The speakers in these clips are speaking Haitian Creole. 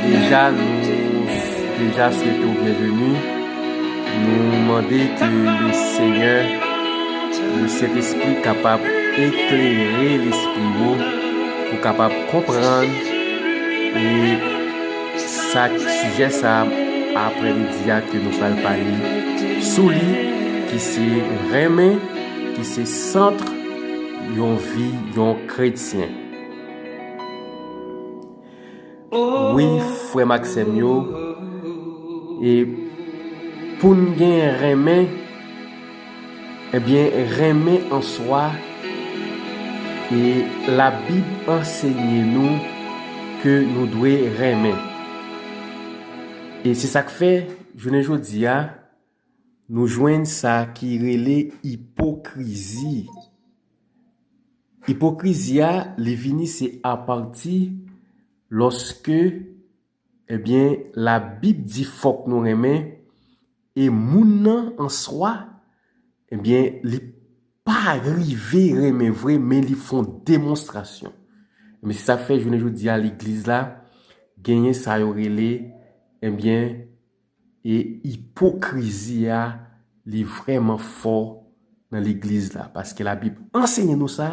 Deja nou deja swete w byenveni, nou mande ke le Senyè, le Sentespri kapab eklere lespri ou pou w kapab konprann e sa k sijè sa apre midi a ke nou pral pale sou li ki se renmen ki se centre yon vi yon kretyen. Wi frèm ak sèm yo e poun gen renmen ebyen renmen an swa e la bib ansenye nou ke nou dwe renmen e se sak fè jounen jodia Nou jwenn sa ki rele ipokrizi. Ipokrizi a li vini se apati lòske ebyen labib di fòk nou renmen e moun nan an swa ebyen li pa rive renmen vre men li fon demonstrasyon. Men se sak fè jounen jodi a legliz la genyen sa yo rele ebyen. E ipokrizi a li vrèman fò nan legliz la paske la bib anseye nou sa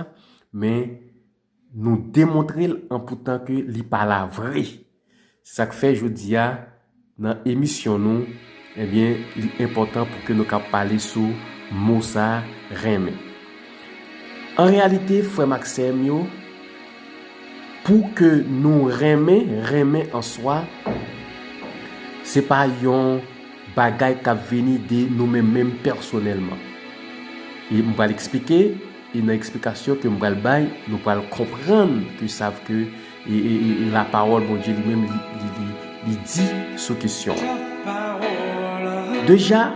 men nou demontrel an poutan ke li pa la vre se sak fè jodia nan emisyon nou ebyen li enpòtan pou ke nou ka pale sou mo sa renmen an reyalite frèm ak sèm yo Pou ke nou renmen, renmen an swa, se pa yon bagay k ap vini de nou menm menm pèsonèlman. E m pral eksplike, e nan eksplikasyon ke m pral bay, nou pral konprann ke sa v ke lapawòl Bondye li menm li di sou kesyon an. Deja.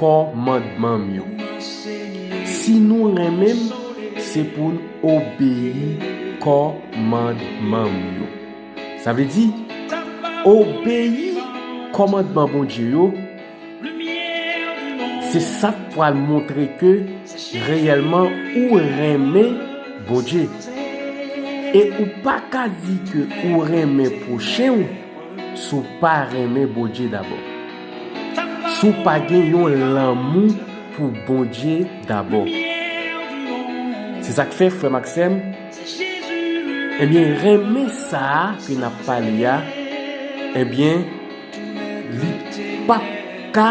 kòmandman m yo. Si nou renmen m, se pou n obeyi kòmandman m yo. Sa vle di, obeyi kòmandman Bondye yo, se sa k pral montre ke reyèlman ou renmen Bondye. E ou pa ka di ke ou renmen pwochen ou, Si w pa renmen Bondye dabò. Si w pa gen yon lanmou pou Bondye dabò. Se sa k fè, frè m ak sè m, ebyen, renmen sa a ke n ap pale a, ebyen, li pap ka.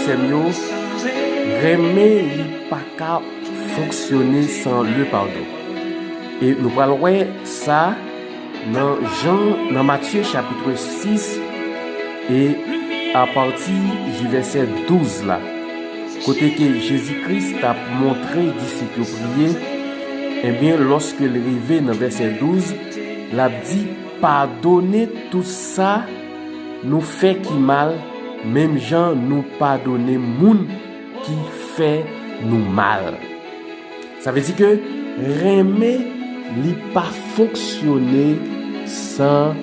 Sèm yo renmen li paka fonksyone san le padon e nou pral wè sa nan jan nan matye chapitre 6 e apati di vèsè 12 la kote ke jezi kris tap montre disip yo priye ebyen loske li rive nan vèsè 12 lap di padone tout sa Nou fè ki mal menm jan nou padone moun ki fè nou mal. Sa vle di ke renmen li pa fonksyone san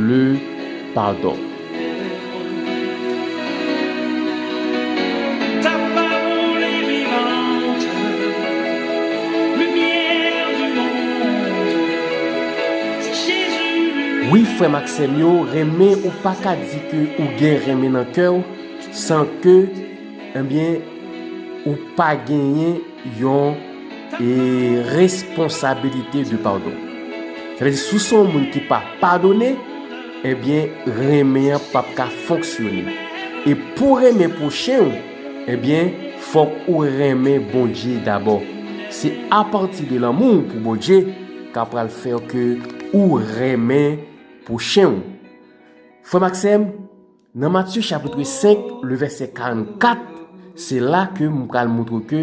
le padon. Sèm yo renmen ou paka di ke ou gen renmen nan kèw san ke ebyen ou pa genyen yon e responsabilite de padon sa vle di si w se yon moun ki pa padone ebyen renmen an pap ka fonksyone e pou renmen pwochen w ebyen fòk ou renmen Bondye dabò se apati de lanmou w pou Bondye ka pral fè ke ou renmen pwochen ou. Frè m ak sè m, nan Matye chapitre 5, le vèsè 44, se la ke m pral montre w ke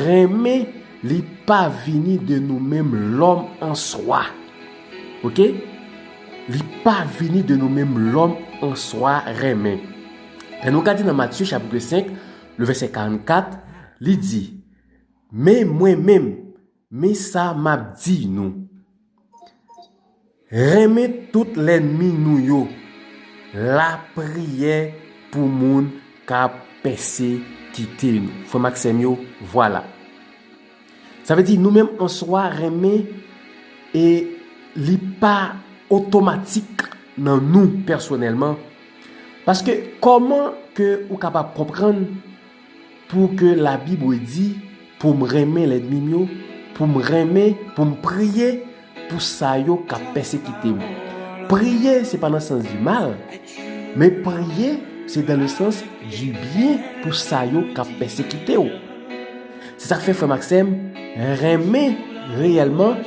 renmen li pa vini de nou menm lòm an swa. Ok? Li pa vini de nou menm lòm an swa renmen. Lè nou gade nan Matye chapitre 5, le vèsè 44, li di, Men mwen menm, Men sa m ap di nou, Renmen tout lènmi nou yo. Lapriyè pou moun k ap pèsekite nou. Frè m ak sè m yo, vwala. Sa vle di nou menm an swa renmen e li pa otomatik nan nou pèsonèlman. Paske kòman ke ou kapab konprann. Pou ke la bibre di pou m renmen lèdmi m yo, pou m renmen, pou m priye pou sa yo k ap pèsekite m. Priye se pa nan sans di mal, men priye se dan le sans di byen pou sa yo k ap pèsekite w. Se sa k fè frè m ak sè m, renmen reyèlman,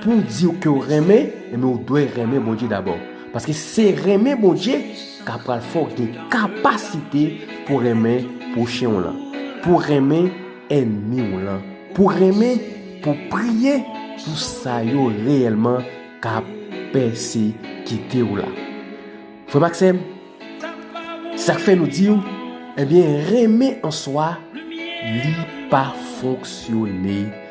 pou w di w ke w renmen, enben w dwe renmen Bondye dabò. Paske se renmen Bondye. Sa pral fè w gen kapasite pou renmen pwochen w lan, pou renmen ènmi w lan, pou renmen, pou priye pou sa yo reyèlman k ap pèsekite w la. Frè m ak sè m, se sa k fè nou di w, ebyen renmen an swa li pa fonksyone.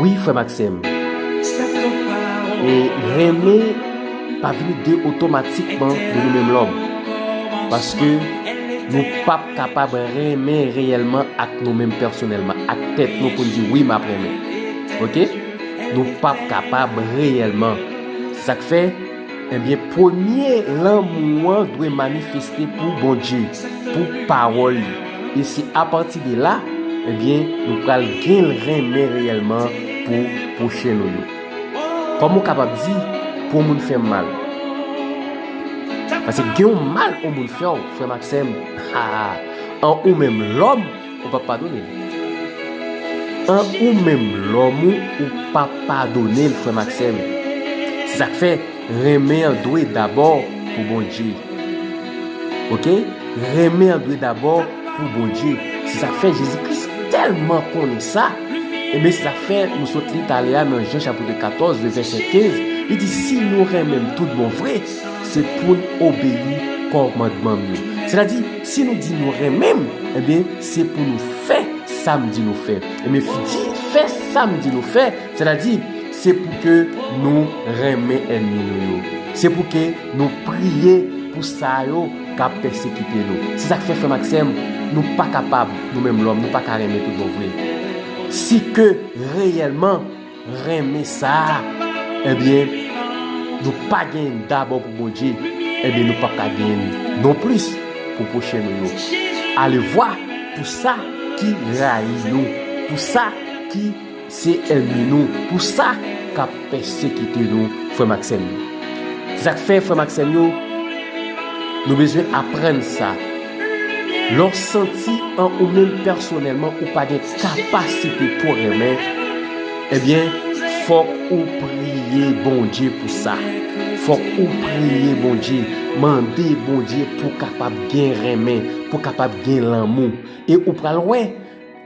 Wi frèm ak sèm e renmen pa vini de otomatikman de nou menm lòm paske nou pap kapab renmen reyèlman ak nou menm pèsonèlman ak tèt nou pou n di wi map renmen ok nou pap kapab reyèlman se sak fè Ebyen premye lanmou an dwe manifeste pou Bondye, pou pawòl li. E se apati de la, ebyen nou pral gen renmen reyèlman pou pwochen nou yo. Kòm ou kapab di, pou yon moun fè m mal. Pase gen yon mal yon moun fè w, frè m ak sè m, an ou menm lòm, ou pap padone l. An ou menm lòm ou ou pa padone l frè m ak sè m. Se sa k fè renmen an dwe dabò pou Bondye ok renmen an dwe dabò pou Bondye se sa k fè Jezi Kris tèlman konnen sa enben se sa k fè nou sot li talè a nan Jan chapitre 14 le vèsè 15 li di si nou renmen m tout bon vre se pou n obeyi kòmandman m yo sètadi Si nou di nou renmen m, enben, se pou nou fè sa m di nou fè. Enben, di fè sa m di nou fè, sètadi, se pou ke nou renmen ènmi nou yo. Se pou ke nou priye pou sa yo k ap pèsekite nou. Se sa k fè, frè m ak sè m, nou pa kapab, nou menm lòm, nou pa ka renmen toutbonvre. Si ke reyèlman. renmen sa ebyen nou pa gen dabò pou Bondye ebyen nou pap ka gen li non plis pou pwochen nou yo alevwa pou sa ki rayi nou pou sa ki se ènmi nou pou sa kap pèsekite nou frèm ak sèm yo se sak fè frèm ak sèm yo nou bezwen aprann sa lè w santi an ou menm pèsonèlman ou pa gen kapasite pou renmen ebyen fòk ou priye Bondye pou sa fòk ou priye Bondye mande Bondye pou kapab gen renmen pou kapab gen lanmou e ou pral wè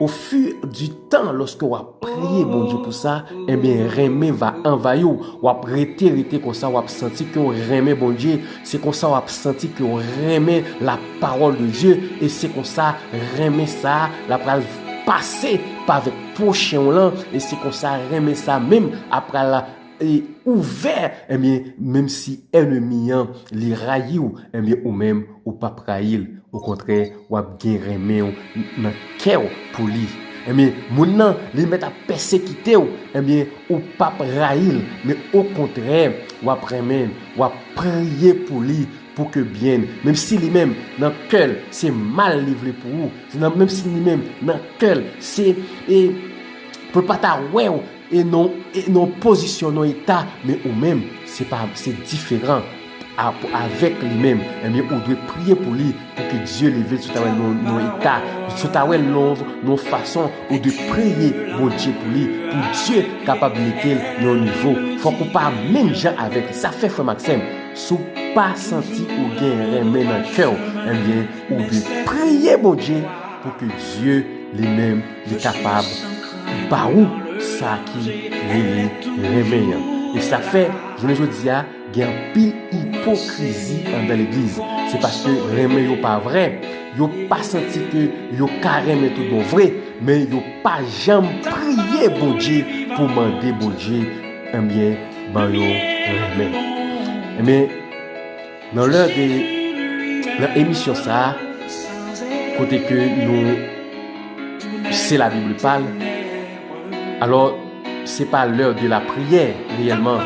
ofi di tan lòske wap priye Bondye pou sa ebyen renmen va anvayiw wap rete rete konsa wap santi ke ou renmen Bondye. Se konsa w ap santi ke w renmen la pawòl de Dye e se konsa renmen sa la pral pase pa avèk pwochen w lan e se konsa renmen sa menm a pral ouvè ebyen menm si ènemi an li rayi w ebyen ou menm ou p ap rayi l okontrè w ap gen renmen w nan kè w pou li ebyen moun nan li mèt ap pèsekite w ebyen ou p ap rayi l men okontrè w ap renmen l. Wap priye pou li pou ke byn menm si li menm nan kèl se mal li vle pou ou se nan menm si li menm nan kèl se e pou l pa ta wèw e non e non pozisyon non eta men ou menm se pa se diferan a pou avèk li menm ebyen ou dwe priye pou li Pou ke Dieu leve sou ta wè nou nan yon eta, sou ta wè love nan yon fason ou dwe priye Bondye pou li, pou Dieu kapab metel nan yon nivo. Fòk ou pa menm jan avèk li. Sa fè frèm ak sèm, si w pa santi ou gen renmen nan kè w, enbyen ou dwe priye Bondye pou ke Dieu li menm li kapab ba ou sa ki rele renmen an. E sa fè jounen jodi a. Gen anpil ipokrizi andan legliz. Se paske renmen yo pa vrè. Yo pa santi ke yo ka renmen tout bon vre. Men yo pa janm priye Bondye pou mande Bondye enbyen ban yo renmen. Enbyen, nan lè de, nan emisyon sa, kote ke nou, se la Bible pale, alò, Se pa l'heure de la prière reyèlman,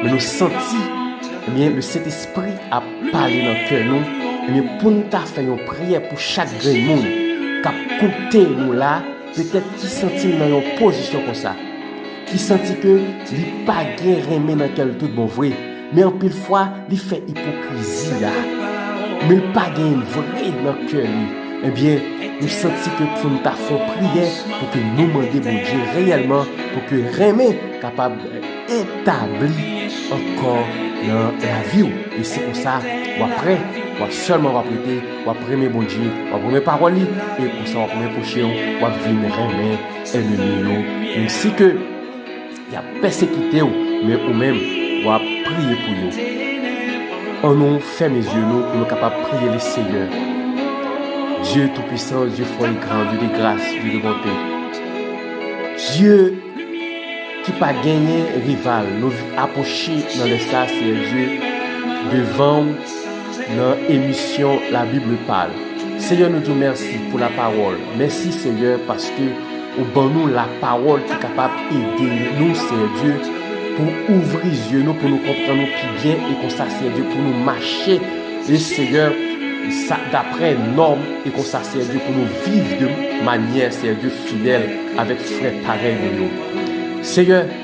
men nou santi ebyen le Sentespri ap pale nan kè nou ebyen pou nou ta fè yon priyè pou chak grenn moun k'ap koute nou la petèt ki santi l nan yon pozisyon konsa, ki santi ke li pa gen renmen nan kè l tout bon vre. Men anpil fwa li fè ipokrizi a, men l pa gen l vre nan kè li, ebyen nou santi ke pou nou ta fè yon priyè pou ke nou mande Bondye reyèlman pou ke renmen kapab etabli ankò nan lavi w, e se konsa w ap pre, w ap sèlman w ap rete, w ap renmen Bondye, w ap renmen pawòl li, e konsa w ap renmen pwochen w, w ap vin renmen ènmi yo, menmsi ke. Y ap pèsekite w, men ou menm, w ap priye pou yo. An nou fèmen zye nou pou nou kapab priye le Seyè. Dye Toupisan, Dye Fò e Gran, Dye de Gras, Dye de Bonte. Dye ki pa genyen rival, nou apwoche nan lè sa, Seyè Dye, devan w nan emisyon La Bible Parle. Seyè nou di w mèsi pou lapawòl. Mèsi Seyè paske. Ou ban nou la pawòl ki kapab ede nou, Seyè Dye, pou ouvri zye nou pou nou konprann ou pi byen e konsa, Seyè Dye, pou nou mache, e Seyè, sa daprè nòm e konsa, Seyè Dye, pou nou viv de manyè, Seyè Dye, fidèl avèk frè parèy nou yo. Seyè.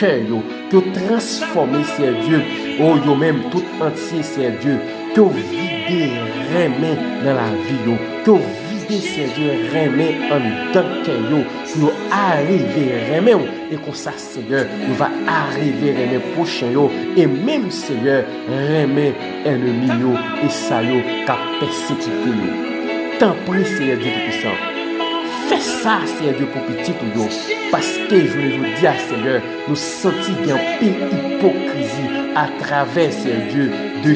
Kè yo te transfòme Sè Dye o yo menm tout antye Sè Dye ke w vide renmen nan lavi yo ke w vide Sè Dye renmen anndan kè yo pou yo arive renmen w e konsa Seyè yo va arive renmen pwochen yo e menm Seyè renmen Ènemi yo e sa yo k ap pèsekite yo. Tanpri, Senyè Dye Toupisan, fè sa, Senyè Dye, pou pitit ou yo, paske jounen jodi a, Senyè, nou santi gen anpil ipokrizi atravè, Senyè Dye, de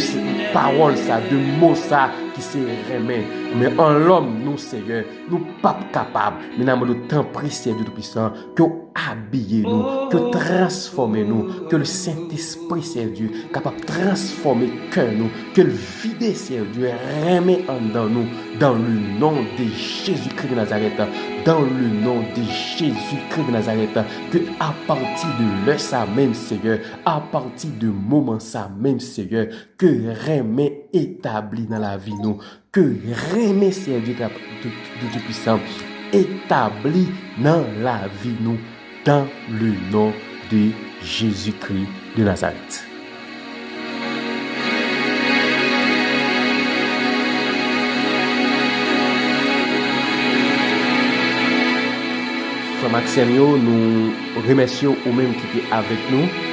pawòl sa, de mo sa ki se renmen. Men an lòm nou, Senyè, nou p ap kapab. Menamado, tanpri, Senyè Dye Toupisan, Ke w abiye nou, ke w transfòme nou, ke le Sentespri Sendye kapab transfòme kè nou, ke l vide Sendye renmen anndan nou, dan le non de Jezi Kri de Nazarèt, dan le non de Jezi Kri de Nazarèt, ke apati de lè sa menm Seyè, apati de moman sa menm Seyè, ke renmen etabli nan lavi nou, Ke renmen Senyè Dye Kap Tout Pwisan etabli nan lavi nou dan le non de Jezi Kri de Nazarèt. Frèm ak sèm yo nou remèsye ou menm ki te avèk nou.